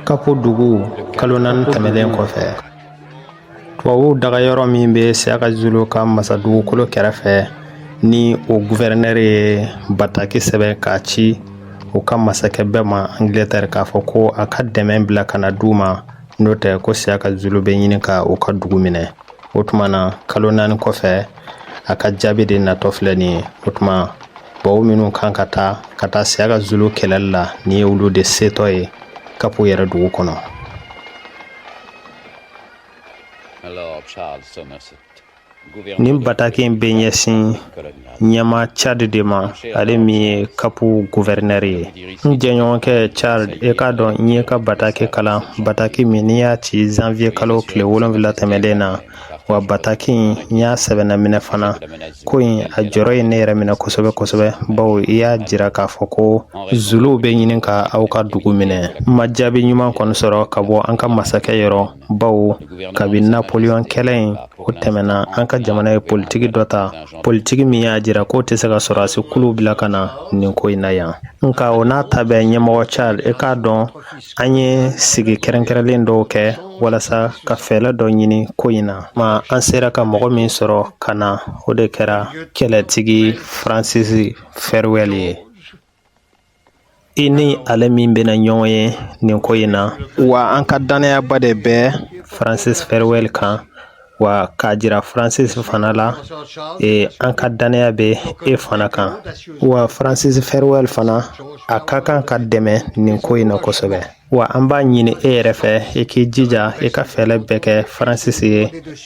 Kapo dugu kalo naani tɛmɛnen kɔfɛ tubabuw dagayɔrɔ min bɛ siyaka zulu ka masadugukolo kɛrɛfɛ ni o guvɛrɛnɛri ye bataki sɛbɛn k'a ci u ka masakɛ bɛɛ ma angilɛtɛri k'a fɔ ko a ka dɛmɛ bila ka na d'u ma n'o tɛ ko siyaka zulu bɛ ɲini ka u ka dugu minɛ o tuma na kalo naani kɔfɛ a ka jaabi de natɔ filɛ nin ye o tuma tubabu minnu kan ka taa ka taa siyaka zulu kɛlɛli la nin ye olu de setɔ ye kapo yɛrɛ dugu kɔnɔ Nin bataki in bɛ ɲɛsin ɲɛmaa charles de ma ale min ye kapo guvɛrɛnɛri ye n jɛɲɔgɔnkɛ charles i k'a dɔn n y'i ka bataki kalan bataki min n'i y'a ci zanwiye kalo tile wolonwula tɛmɛnen na wa bataki in y'a sɛbɛnna minɛ fana ko in a jɔrɔ ye ne yɛrɛ minɛ kosɛbɛ kosɛbɛ bawo i y'a jira k'a fɔ ko zuluw bɛ ɲini ka aw ka dugu minɛ n ma jaabi ɲuman kɔni sɔrɔ ka bɔ an ka masakɛ yɔrɔ bawo kabi napoleon kɛlɛ in o tɛmɛna an ka jamana ye politiki dɔ ta politiki min y'a jira k'o tɛ se ka sɔrɔdasi kuluw bila ka na nin ko in na yan nka o n'a ta bɛɛ ɲɛmɔgɔ charles i k'a dɔn An ye sigi kɛrɛnkɛrɛnlen dɔw kɛ walasa ka fɛɛlɛ dɔ ɲini ko in na ma an sera ka mɔgɔ min sɔrɔ ka na o de kɛra kɛlɛtigi Francis Farewell ye i ni ale min bɛna ɲɔgɔn ye nin ko in na wa an ka dannayaba de bɛ Francis Farewell kan wa k'a jira Francis fana la an ka dannaya bɛ e fana kan wa Francis Farewell fana a ka kan ka dɛmɛ nin ko in na kosɛbɛ wa an b'a ɲini e yɛrɛ fɛ i k'i jija i ka fɛɛlɛ bɛɛ kɛ Francis ye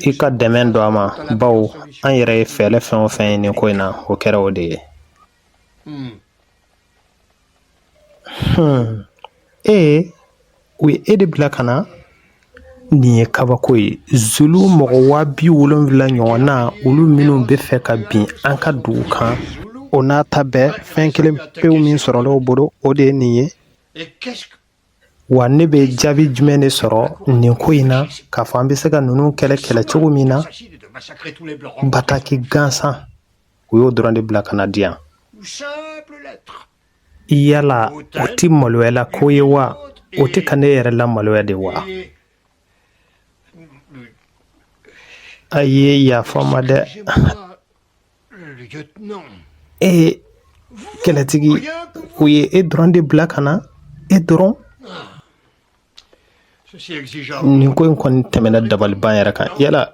i ka dɛmɛ don a ma baw an yɛrɛ ye fɛɛlɛ fɛn o fɛn ye nin ko in na o kɛra o de ye Hmm. Hmm. ee u ye e de bila ka na nin ye kabako ye zulu mɔgɔ waa bi wolonwula ɲɔgɔn na olu minnu bɛ fɛ ka bin an ka dugu kan o n'a ta bɛɛ fɛn kelen pewu min sɔrɔla u bolo o de ye nin ye wa ne bɛ jaabi jumɛn de sɔrɔ nin ko in na k'a fɔ an bɛ se ka ninnu kɛlɛ kɛlɛ cogo min na bataki gansan u y'o dɔrɔn de bila ka na di yan yala o tɛ maloyala ko ye wa u tɛ ka ne yɛrɛ lamaloya de wa a ye yafa ma dɛ e kɛlɛtigi u ye e dɔrɔn de bila ka na e dɔrɔn nin ko in kɔni tɛmɛna dabaliban yɛrɛ kan yala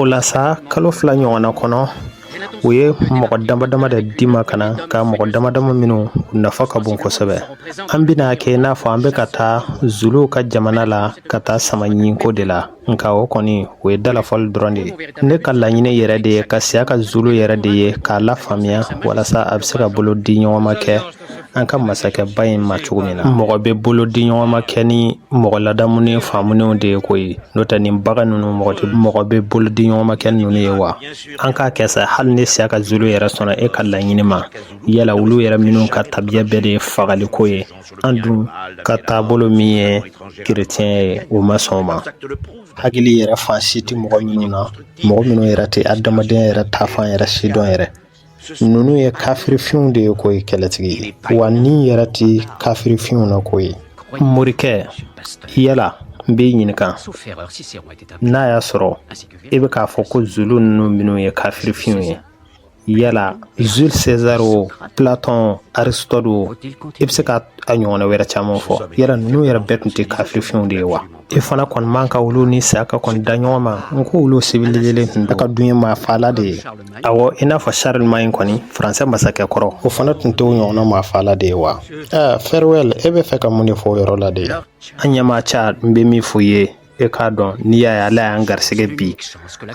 o la sa kalo fila ɲɔgɔnna kɔnɔ u ye mɔgɔ dama dama de di ma ka na ka mɔgɔ dama dama minnu nafa ka bon kosɛbɛ an bɛna kɛ i n'a fɔ an bɛ ka taa zuluw ka jamana la ka taa sama ɲinko de la nka o kɔni o ye dalafɔli dɔrɔn de ye ne ka laɲini yɛrɛ de ye ka siyaka zulu yɛrɛ de ye k'a lafaamuya walasa a bɛ se ka bolo di ɲɔgɔn ma kɛ an ka masakɛba in ma cogo min na mɔgɔ bɛ bolo di ɲɔgɔn ma kɛ ni mɔgɔ ladamunen faamunenw de ye koyi n'o tɛ nin bagan ninnu mɔgɔ bɛ bolo di ɲɔgɔn ma kɛ ninnu ye wa an k'a kɛ sa hali ni siyaka zulu yɛrɛ sɔnna e ka laɲini ma yala olu yɛrɛ minnu ka tabiya bɛɛ de ye fagali ko ye an dun ka taabolo min ye kerecɛn ye o ma sɔn o ma hakili yɛrɛ fan si tɛ mɔgɔ minnu na mɔgɔ minnu yɛrɛ tɛ adamadenya yɛrɛ taafan yɛrɛ si dɔn yɛrɛ ninnu ye kafirifinw de ye koyi kɛlɛtigi wa ni yɛrɛ tɛ kafirifinw na koyi morikɛ yala n b'i ɲininka n'a y'a sɔrɔ e bɛ k'a fɔ ko zulu ninnu minnu ye kafirifinw ye yala jules césar o platon aristote o i bɛ se ka a ɲɔgɔnna wɛrɛ caman fɔ yala ninnu yɛrɛ bɛɛ tun tɛ kafirifinw de ye wa e fana kɔni man ka olu ni siyaka kɔni da ɲɔgɔn ma n ko olu siwilizelen tun ka dun ye maa faala de ye awɔ i n'a fɔ charlemagne kɔni faransɛ masakɛ kɔrɔ o fana tun t'o ɲɔgɔnna maa faala de ye wa aa farewell e bɛ fɛ ka mun de fɔ o yɔrɔ la de an ɲɛmaa charles n bɛ min f'u ye e k'a dɔn n'i y'a ye ala y'an garisɛgɛ bi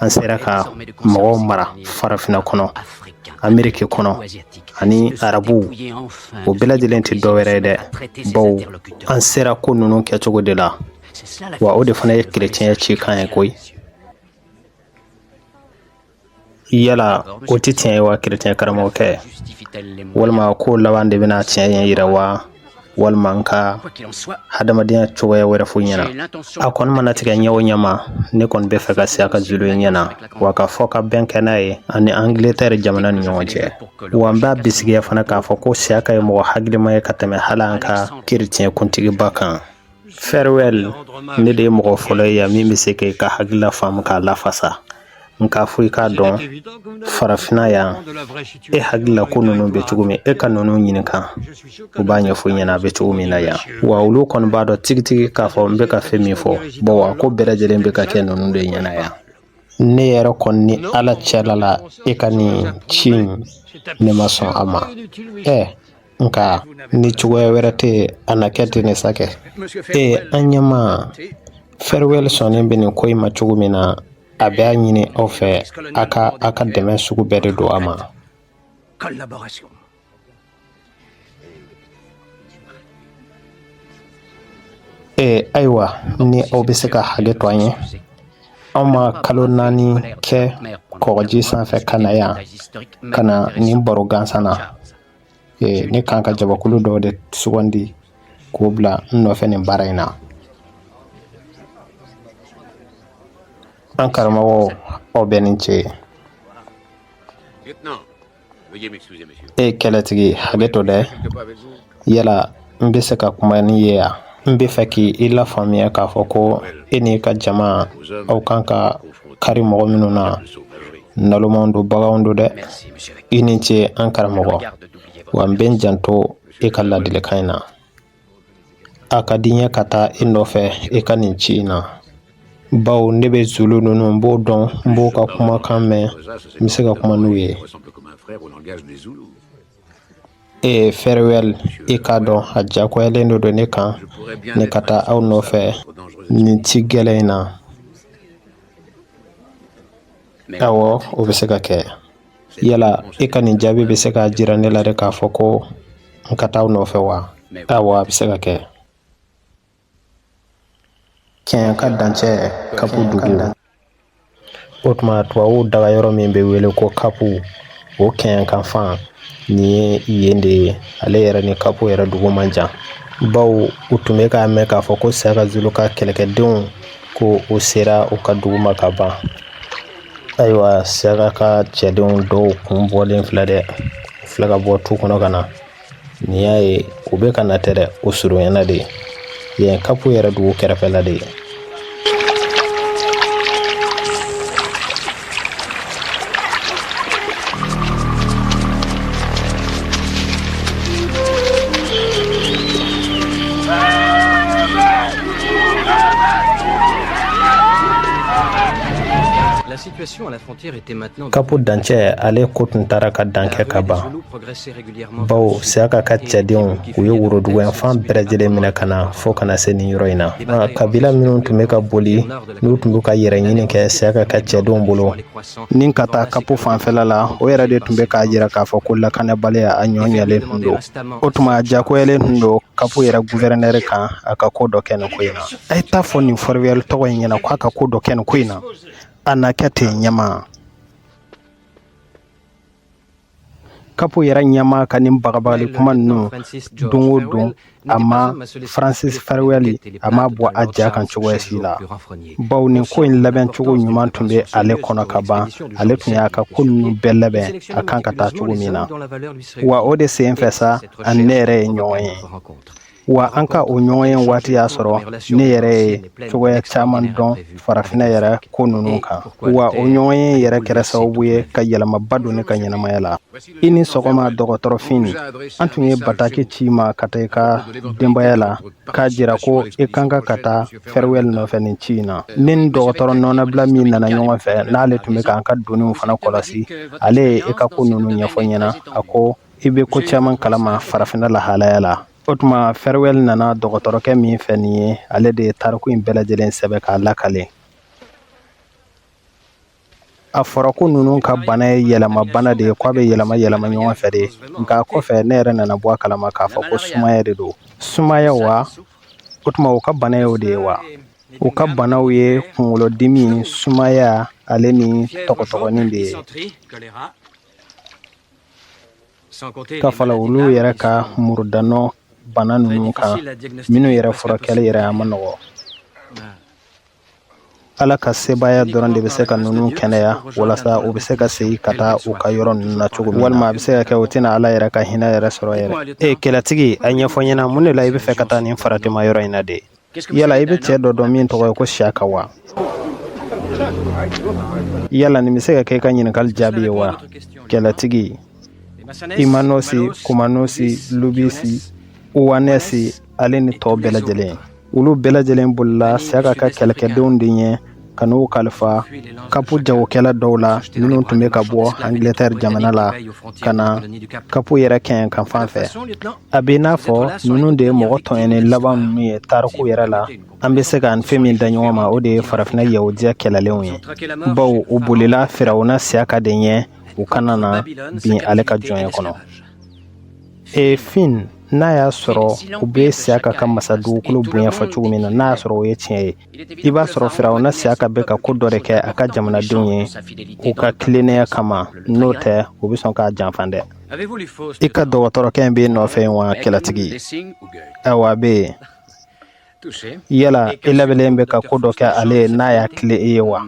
an sera ka mɔgɔw mara farafina kɔnɔ ameriki kɔnɔ ani arabu o bɛɛ lajɛlen tɛ dɔwɛrɛ ye dɛ bawo an sera ko ninnu kɛcogo de la wa o de fana ye kerecɛnya cikan ye koyi yala o tɛ tiɲɛ ye wa kerecɛn karamɔgɔkɛ walima ko laban de bɛna tiɲɛ yira wa walima n ka hadamadenya cogoya wɛrɛ f'aw ɲɛna a kɔni mana tigɛ ɲɛ o ɲɛma ne kɔni bɛ fɛ ka siyaka zulu ye ɲɛna wa ka fɔ ka bɛn kɛ n'a ye ani angiletɛri jamana ni ɲɔgɔn cɛ wa n b'a bisigiya fana k'a fɔ ko siyaka ye mɔgɔ hakilima ye ka tɛmɛ hali an ka kerecɛn kuntigiba kan farewell ne de ye mɔgɔ fɔlɔ ye yan min bɛ se k'i ka hakilila faamu k'a lafasa nka fo i k'a dɔn farafina yan e hakilila ko ninnu bɛ cogo min e ka ninnu ɲininka u b'a ɲɛfɔ i ɲɛna a bɛ cogo min na yan wa olu kɔni b'a dɔn tigitigi k'a fɔ n bɛ ka fɛn min fɔ bawo ko bɛɛ lajɛlen bɛ ka kɛ ninnu de ɲɛna yan ne yɛrɛ kɔni ni ala cɛla la e ka nin ci ne ma sɔn a ma ɛ nka ni cogoya wɛrɛ tɛ a na kɛ ten masakɛ ee an ɲɛmaa Farewell sɔnnen bɛ nin ko in ma cogo min na a bɛ a ɲini aw fɛ a ka a ka dɛmɛ sugu bɛɛ de don a ma Ee ayiwa ni aw bɛ se ka hakɛ to an ye anw ma kalo naani kɛ kɔgɔji sanfɛ ka na yan ka na nin baro gansan na ne kan ka jamakulu dɔ de sugandi k'o bila n nɔfɛ nin baara in na an karamɔgɔ aw bɛ nin cɛ ye E kɛlɛtigi hakɛ to dɛ yala n bɛ se ka kuma n'i ye yan n bɛ fɛ k'i lafaamuya k'a fɔ ko e n'i ka jama aw kan ka kari mɔgɔ minnu na nalomaw don baganw don dɛ i ni ce an karamɔgɔ wa n bɛ n janto e ka ladilikan in na a ka di n ye ka taa i nɔfɛ i ka nin ci in na bawo ne bɛ zulu ninnu n b'o dɔn n b'o ka kumakan mɛn n bɛ se ka kuma n'u ye ee Farewell i k'a dɔn a diyagoyalen de don ne kan ne ka taa aw nɔfɛ nin ci gɛlɛn in na awɔ o bɛ se ka kɛ yala e ka nin jaabi bɛ se k'a jira ne la de k'a fɔ ko n ka taa aw nɔfɛ wa awɔ a bɛ se ka kɛ kɛɲɛka dancɛ kapu dugu o tuma tubabuw dagayɔrɔ min bɛ wele ko kapu o kɛɲɛka fan nin ye yen de ye ale yɛrɛ ni kapu yɛrɛ dugu man jan bawo u tun bɛ k'a mɛn k'a fɔ ko Siyaka zulu ka kɛlɛkɛdenw ko o sera u ka dugu ma ka ban ayiwa Siyaka ka cɛdenw dɔw kun bɔlen filɛ dɛ u filɛ ka bɔ tu kɔnɔ ka na n'i y'a ye u bɛ ka na ten dɛ o surunyana de yen kapu yɛrɛ dugu kɛrɛfɛla de ye Kapu dancɛ ale ko tun taara ka dan kɛ ka ban bawo Siyaka ka cɛdenw u ye woroduguyanfan bɛɛ lajɛlen minɛ ka na fo ka na se nin yɔrɔ in na kabila minnu tun bɛ ka boli n'u tun bɛ ka yɛrɛ ɲini kɛ Siyaka ka cɛdenw bolo ni ka taa kapu fanfɛla la o yɛrɛ de tun bɛ k'a jira k'a fɔ ko lakanabaliya a ɲɔ ɲɛlen tun don o tuma diyagoyalen tun don kapu yɛrɛ gouverneur kan a ka ko dɔ kɛ nin ko in na A ye taa fɔ nin fɛrɛwɛl tɔgɔ in ɲɛna k'a ka ko dɔ kɛ nin ko in na a na kɛ ten ɲɛma kapu yɛrɛ ɲɛma ka nin bagabagali kuma ninnu don o don a ma faransisi fɛrɛwɛl a ma bɔ a ja kan cogoya si la bawo nin ko in labɛn cogo ɲuman tun bɛ ale kɔnɔ ka ban ale tun y'a ka ko ninnu bɛɛ labɛn a kan ka taa cogo min na wa o de sen fɛ sa ani ne yɛrɛ ye ɲɔgɔn ye wa an ka o ɲɔgɔn ye waati y'a sɔrɔ ne yɛrɛ ye cogoya caman dɔn farafinna yɛrɛ ko ninnu kan wa o ɲɔgɔn ye yɛrɛ kɛra sababu ye ka yɛlɛmaba don ne ka ɲɛnamaya la i ni sɔgɔma dɔgɔtɔrɔ fin an tun ye bataki ci i ma ka taa i ka denbaya la k'a jira ko i kan ka ka taa fɛrɛwɛl nɔfɛ nin ci in na ne ni dɔgɔtɔrɔ nɔnabila min nana ɲɔgɔn fɛ n'ale tun bɛ k'an ka doniw fana kɔlɔsi ale ye i ka ko ninnu ɲɛfɔ ɲɛna a ko i bɛ ko caman kalama farafinna lahalaya la o tuma fɛrɛwɛl nana dɔgɔtɔrɔkɛ min fɛ nin ye ale de ye tariku in bɛɛ lajɛlen sɛbɛn k'a lakale a fɔra ko ninnu ka bana ye yɛlɛma bana de ye k'a bɛ yɛlɛma yɛlɛma ɲɔgɔn fɛ de nka kɔfɛ ne yɛrɛ nana bɔ a kalama k'a fɔ ko sumaya de don sumaya wa o tuma u ka bana ye o de ye wa u ka banaw ye kunkolodimi sumaya ale ni tɔgɔtɔgɔnin de ye Ka fara olu yɛrɛ ka murudanɔ bana ninnu kan minnu yɛrɛ furakɛli yɛrɛ a man nɔgɔ ala ka sebaaya dɔrɔn de bɛ se ka ninnu kɛnɛya walasa u bɛ se ka segin ka taa u ka yɔrɔ ninnu na cogo min walima a bɛ se ka kɛ u tɛna ala yɛrɛ ka hinɛ yɛrɛ sɔrɔ yɛrɛ ee kɛlɛtigi a ɲɛfɔ ɲɛna mun de la i bɛ fɛ ka taa nin faratima yɔrɔ in na de yala i bɛ cɛ dɔ dɔn min tɔgɔ ye ko siyaka wa yala nin bɛ se ka kɛ i ka ɲininkali jaabi ye wa kɛlɛtigi imanosi kumanosi lubisi uwanɛsi ale ni tɔw bɛɛ lajɛlen olu bɛɛ lajɛlen bolila siyaka ka kɛlɛkɛdenw de ɲɛ ka n'u kalifa kapu jagokɛla dɔw la minnu tun bɛ ka bɔ angilɛtɛri jamana la ka na kapu yɛrɛ kɛɲɛka fan fɛ a bɛ i n'a fɔ ninnu de ye mɔgɔ tɔɲɔnnen laban ninnu ye tariku yɛrɛ la an bɛ se k'a ni fɛn min da ɲɔgɔn ma o de ye farafinna yahudiya kɛlɛlenw ye bawo u bolila firawuna siyaka de ɲɛ u kana na bin ale ka jɔnya kɔnɔ fin n'a y'a sɔrɔ u bɛ siyaka ka masa dugukolo bonya fɔ cogo min na n'a y'a sɔrɔ o ye tiɲɛ ye i b'a sɔrɔ firawuna siyaka bɛ ka ko dɔ de kɛ a ka jamanadenw ye u ka tilennenya kama n'o tɛ u bɛ sɔn k'a janfa dɛ i ka dɔgɔtɔrɔkɛ in b'i nɔfɛ yen wa kɛlɛtigi awa a bɛ yen yala i labɛnnen bɛ ka ko dɔ kɛ ale ye n'a y'a tilen i ye wa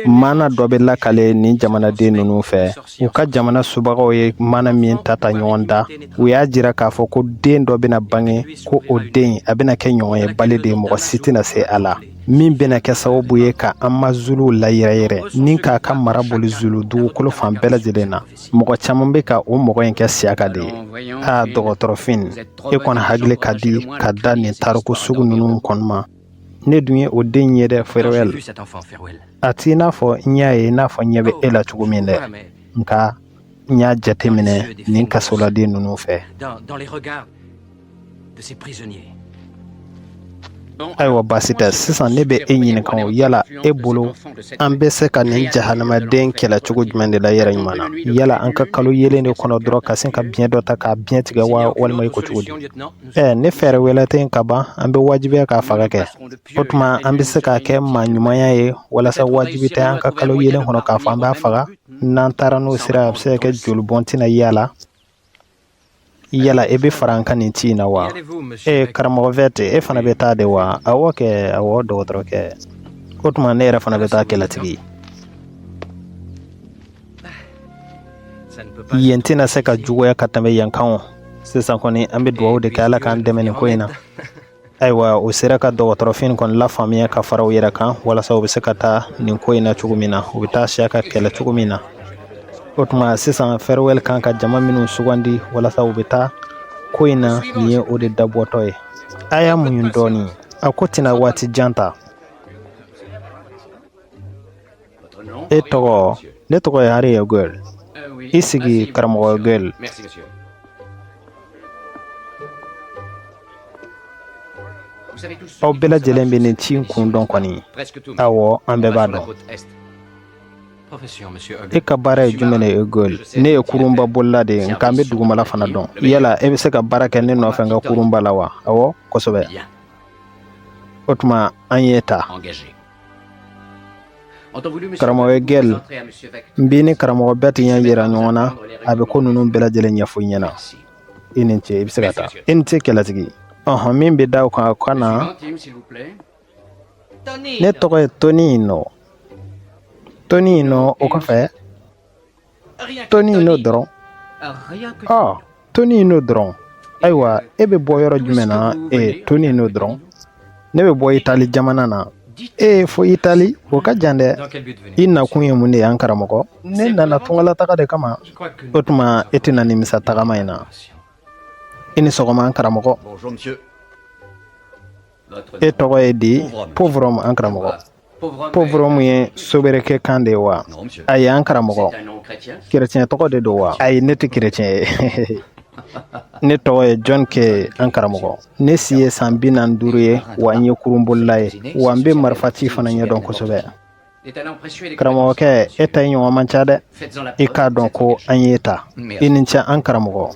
maana dɔ bɛ lakale nin jamanaden ninnu fɛ u ka jamana subagaw ye maana min ta ta ɲɔgɔn da u y'a jira k'a fɔ ko den dɔ bɛna bange ko o den a bɛna kɛ ɲɔgɔnyebali de mɔgɔ si tɛna se a la min bɛna kɛ sababu ye ka amazuluw layɛrɛyɛrɛ ni k'a ka mara boli zulu dugukolo fan bɛɛ lajɛlen na mɔgɔ caman bɛ ka o mɔgɔ in kɛ siyaka de ye a dɔgɔtɔrɔ fin e kɔni hakili ka di ka da nin tariku sugu ninnu kɔni ma ne dun ye o den ye dɛ farewell a t'i n'a fɔ n y'a ye n'a fɔ ɲɛ bɛ e la cogo min dɛ nka n y'a jateminɛ nin kasoladen ninnu fɛ ayiwa baasi tɛ sisan ne bɛ e ɲininka o yala e bolo an bɛ se ka nin jahanamaden kɛlɛ cogo jumɛn de la yɛrɛ ɲuman na yala an ka kalo yeelen de kɔnɔ dɔrɔn ka sin ka biɲɛ dɔ ta k'a biɲɛ tigɛ wa walima i ko cogo di Ɛɛ ni fɛɛrɛ wɛrɛ tɛ kaban an bɛ wajibiya k'a faga kɛ o tuma an bɛ se k'a kɛ maa ɲumanya ye walasa wajibi tɛ an ka kalo yeelen kɔnɔ k'a fɔ an b'a faga n'an taara n'o sira a bɛ se ka kɛ joli bɔn tɛna y'a la yala e bɛ fara an kan nin ci in na wa ee karamɔgɔ vɛti e fana bɛ taa de wa awɔ kɛ awɔ dɔgɔtɔrɔ kɛ o tuma ne yɛrɛ fana bɛ taa kɛlɛtigi yen tɛna se ka juguya ka tɛmɛ yan kan o sisan kɔni an bɛ dugawu de kɛ ala k'an dɛmɛ nin ko in na ayiwa o sera ka dɔgɔtɔrɔ fin kɔni lafaamuya ka fara u yɛrɛ kan walasa u bɛ se ka taa nin ko in na cogo min na u bɛ taa siyaka kɛlɛ cogo min na o tuma sisan farewell kan ka jama minnu sugandi walasa u bɛ taa ko in na nin ye o de dabɔtɔ ye a y'a muɲu dɔɔnin a ko tɛna waati jan ta e tɔgɔ ne tɔgɔ ye ari egɛl i sigi karamɔgɔ egɛl aw bɛɛ lajɛlen bɛ nin ci in kun dɔn kɔni awɔ an bɛɛ b'a dɔn e ka baara ye jumɛn ye egɛl ne ye kurunba bolila de ye nka n bɛ dugumala fana dɔn yala e bɛ se ka baara kɛ ne nɔfɛ n ka kurunba la wa awɔ kosɛbɛ o tuma an y'i ta karamɔgɔ egɛl n b'i ni karamɔgɔ vɛti ɲɛ yira ɲɔgɔn na a bɛ ko ninnu bɛɛ lajɛlen ɲɛfɔ i ɲɛna i ni ce i bɛ se ka taa i ni ce kɛlɛtigi ɔhɔn min bɛ da o kan ka na ne tɔgɔ ye tonino tonino o kɔfɛ tonino dɔrɔn ɔ tonino dɔrɔn ayiwa e bɛ bɔ yɔrɔ jumɛn na ee tonino dɔrɔn ne bɛ bɔ itali jamana na ee fo itali o ka jan dɛ i nakun ye mun de ye an karamɔgɔ ne nana tungalataga de kama o tuma e tɛna nimisa tagama in na i ni sɔgɔma an karamɔgɔ e tɔgɔ ye di popham an karamɔgɔ pauvre homme ye sobriquet kan de ye wa ayi an karamɔgɔ kerecɛn tɔgɔ de don wa ayi ne tɛ kerecɛn ye ne tɔgɔ ye jɔn ke an karamɔgɔ ne si ye san bi naani ni duuru ye wa n ye kurunbolila ye wa n bɛ marifaci fana ɲɛdɔn kosɛbɛ karamɔgɔkɛ e ta ɲɔgɔn man ca dɛ i k'a dɔn ko an y'i ta i ni ce an karamɔgɔ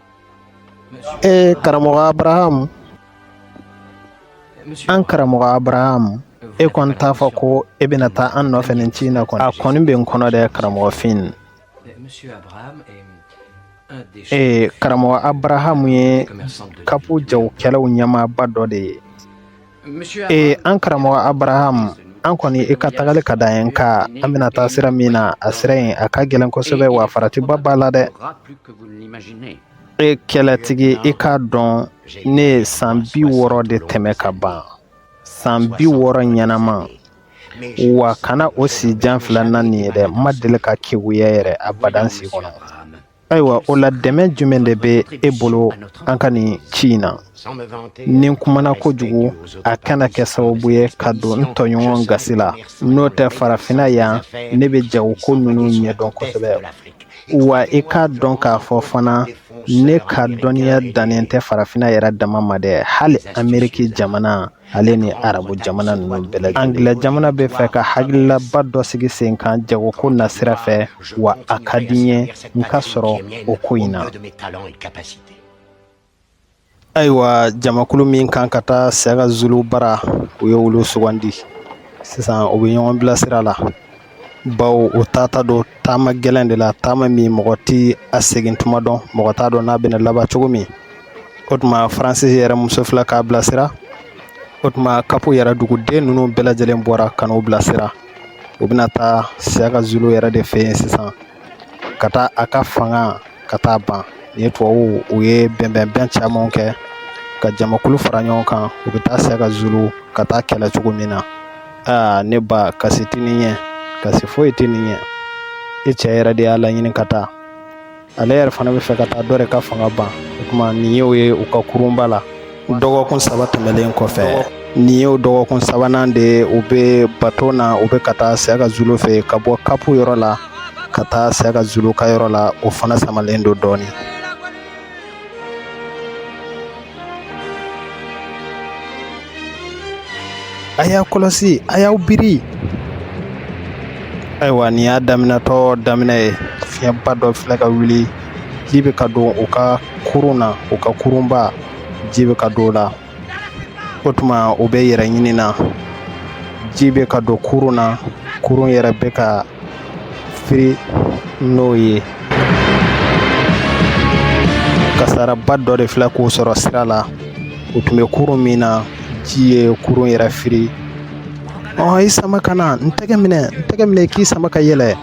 Ee karamɔgɔ abarahamu an karamɔgɔ abarahamu e kɔni t'a fɔ ko e bɛna taa an nɔfɛ nin ci in na kɔni a kɔni bɛ n kɔnɔ dɛ karamɔgɔ fin ee karamɔgɔ abarahamu ye kapu jagokɛlaw ɲɛmaaba dɔ de ye ee an karamɔgɔ abrahamu an kɔni i ka tagali ka d'an ye nka an bɛna taa sira min na a sira in a ka gɛlɛn kosɛbɛ wa faratiba b'a la dɛ e kɛlɛtigi i k'a dɔn ne ye san bi wɔɔrɔ de tɛmɛ ka ban san bi wɔɔrɔ ɲɛnama wa kana o si jan filɛ n na nin ye dɛ n ma deli ka keguya yɛrɛ abadan si kɔnɔ ayiwa o la dɛmɛ jumɛn de bɛ e bolo an ka nin ci in na ni n kumana kojugu a kana kɛ sababu ye ka don n tɔɲɔgɔn gasi la n'o tɛ farafinna yan ne bɛ jago ko ninnu ɲɛdɔn kosɛbɛ wa i k'a dɔn k'a fɔ fana ne ka dɔnniya dannen tɛ farafinna yɛrɛ dama ma dɛ hali ameriki jamana ale ni arabu jamana ninnu bɛɛ lajɛlen angilɛ jamana bɛ fɛ ka hakililaba dɔ sigi sen kan jagoko na sira fɛ wa a ka di n ye n ka sɔrɔ o ko in na ayiwa jamakulu min kan ka taa siyaka zulu bara u ye olu sugandi sisan u bɛ ɲɔgɔn bilasira la bawo u taatɔ don taama gɛlɛn de la taama min mɔgɔ tɛ a segin tuma dɔn mɔgɔ t'a dɔn n'a bɛna laban cogo min o tuma faransi yɛrɛ muso filɛ k'a bilasira o tuma kapu yɛrɛ duguden ninnu bɛɛ lajɛlen bɔra ka n'u bilasira u bɛna taa siyaka zulu yɛrɛ de fɛ yen sisan ka taa a ka fanga ka taa ban nin ye tubabuw u ye bɛnbɛnbɛn camanw kɛ ka jamakulu fara ɲɔgɔn kan u bɛ taa siyaka zulu ka taa kɛlɛ cogo min na aa ne ba kasi tɛ nin ɲɛ kasi foyi tɛ nin ɲɛ i cɛ yɛrɛ de y'a laɲini ka taa ale yɛrɛ fana bɛ fɛ ka taa dɔ de ka fanga ban o tuma nin ye u ye u ka kurunba la dɔgɔkun saba tɛmɛlen kɔfɛ nin y'o dɔgɔkun sabanan de ye u bɛ bato na u bɛ ka taa siyaka zulu fɛ ka bɔ kapu yɔrɔ la ka taa siyaka zulu ka yɔrɔ la o fana samalen don dɔɔnin a y'a kɔlɔsi a y'aw biri ayiwa nin y'a daminɛtɔ daminɛ ye fiɲɛba dɔ filɛ ka wuli ji bɛ ka don u ka kurun na u ka kurunba ji bɛ ka don o la o tuma u bɛ yɛrɛ ɲini na ji bɛ ka don kurun na kurun yɛrɛ bɛ ka firi n'o ye kasaraba dɔ de filɛ k'u sɔrɔ sira la u tun bɛ kurun min na ji ye kurun yɛrɛ firi ɔ i sama ka na n tɛgɛ minɛ n tɛgɛ minɛ k'i sama ka yɛlɛ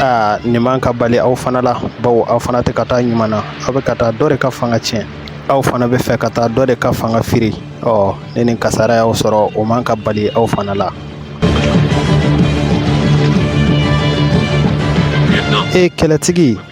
aa nin man ka bali aw fana la bawo aw fana tɛ ka taa ɲuman na aw bɛ ka taa dɔ de ka fanga tiɲɛ aw fana bɛ fɛ ka taa dɔ de ka fanga firi ɔ ni ni kasara y'aw sɔrɔ o man ka bali aw fana la e kɛlɛtigi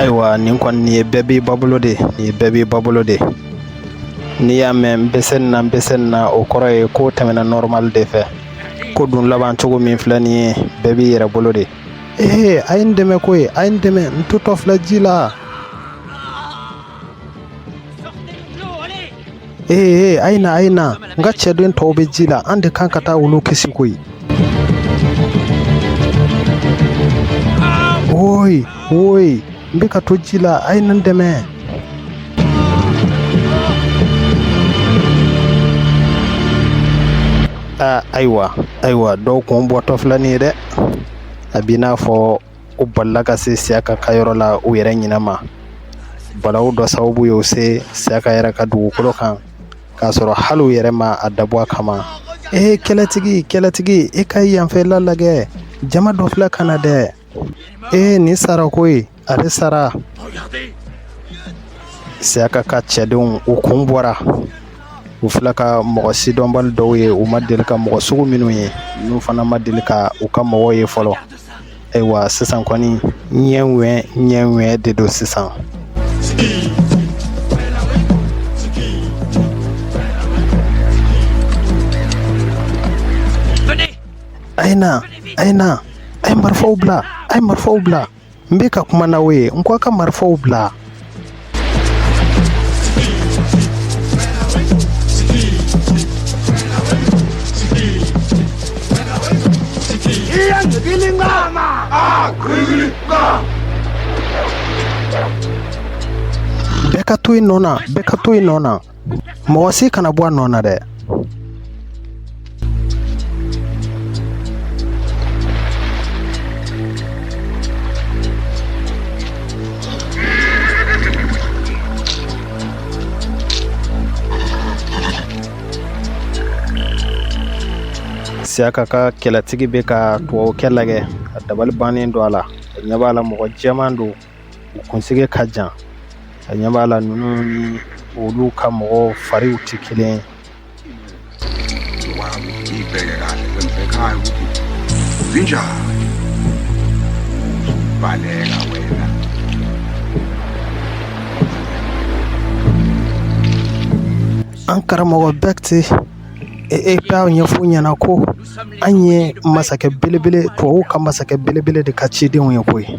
ayiwa nin kɔni nin ye bɛɛ b'i ba bolo de nin ye bɛɛ b'i ba bolo de n'i y'a mɛn n bɛ se nin na n bɛ se nin na o kɔrɔ ye ko tɛmɛna nɔrɔmali de fɛ ko dun laban cogo min filɛ nin ye bɛɛ b'i yɛrɛ bolo de ee a ye n dɛmɛ koyi a ye n dɛmɛ n totɔ filɛ ji la ee a ye na a ye na n ka cɛden tɔw bɛ ji la an de kan ka taa olu kisi koyi woyi woyi n bɛ ka to ji la a ye n dɛmɛ ayiwa ayiwa dɔw kun bɔtɔ filɛ nin ye dɛ a b'i n'a fɔ u balila ka se siyaka ka yɔrɔ la u yɛrɛ ɲinɛ ma balawu dɔ sababu y'u se siyaka yɛrɛ ka dugukolo kan k'a sɔrɔ hali u yɛrɛ ma a dabɔ a kama ee kɛlɛtigi kɛlɛtigi i ka i yanfɛla lajɛ jama dɔ filɛ ka na dɛ ee nin sara koyi ale sara siyaka ka cɛdenw u kun bɔra u filɛ ka mɔgɔ sidɔnbali dɔw ye u ma deli ka mɔgɔ sugu minnu ye n'u fana ma deli ka u ka mɔgɔw ye fɔlɔ ayiwa sisan kɔni ɲɛ ŋɛ ɲɛ ŋɛ de don sisan a ye na a ye na a ye marifaw bila a ye marifaw bila n bɛ ka kuma n'aw ye n ko a ka marifaw bila Bɛɛ ka to i nɔ na bɛɛ ka to i nɔ na mɔgɔ si kana bɔ a nɔ na dɛ siyaka ka kɛlɛtigi bɛ ka tubabukɛ lagɛ a dabali bannen don a la a ɲɛ b'a la mɔgɔ jɛman don u kunsigi ka jan a ɲɛ b'a la ninnu ni olu ka mɔgɔw fariw tɛ kelen an karamɔgɔ Bekti b'a ɲɛfɔ u ɲɛna ko an ye masakɛ belebele tubabu ka masakɛ belebele de ka cidenw ye koyi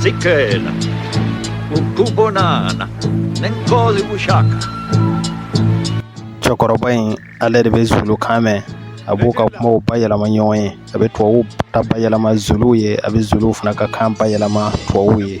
Sicela ukubonana nenkosi uShaka. Cɛkɔrɔba in ale de bɛ zulu kan mɛn a b'u ka kumaw bayɛlɛma ɲɔgɔn ye a bɛ tubabuw ta bayɛlɛma zuluw ye a bɛ zuluw fana ka kan bayɛlɛma tubabuw ye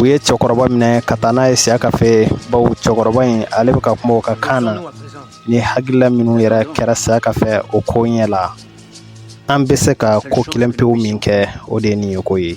u ye cɛkɔrɔba minɛ ka taa n'a ye Siyaka fɛ bawo cɛkɔrɔba in ale bɛ ka kuma o ka kan na ni hakilila minnu yɛrɛ kɛra Siyaka fɛ o ko ɲɛ la an bɛ se ka ko kelen pewu min kɛ o de ye nin ye ko ye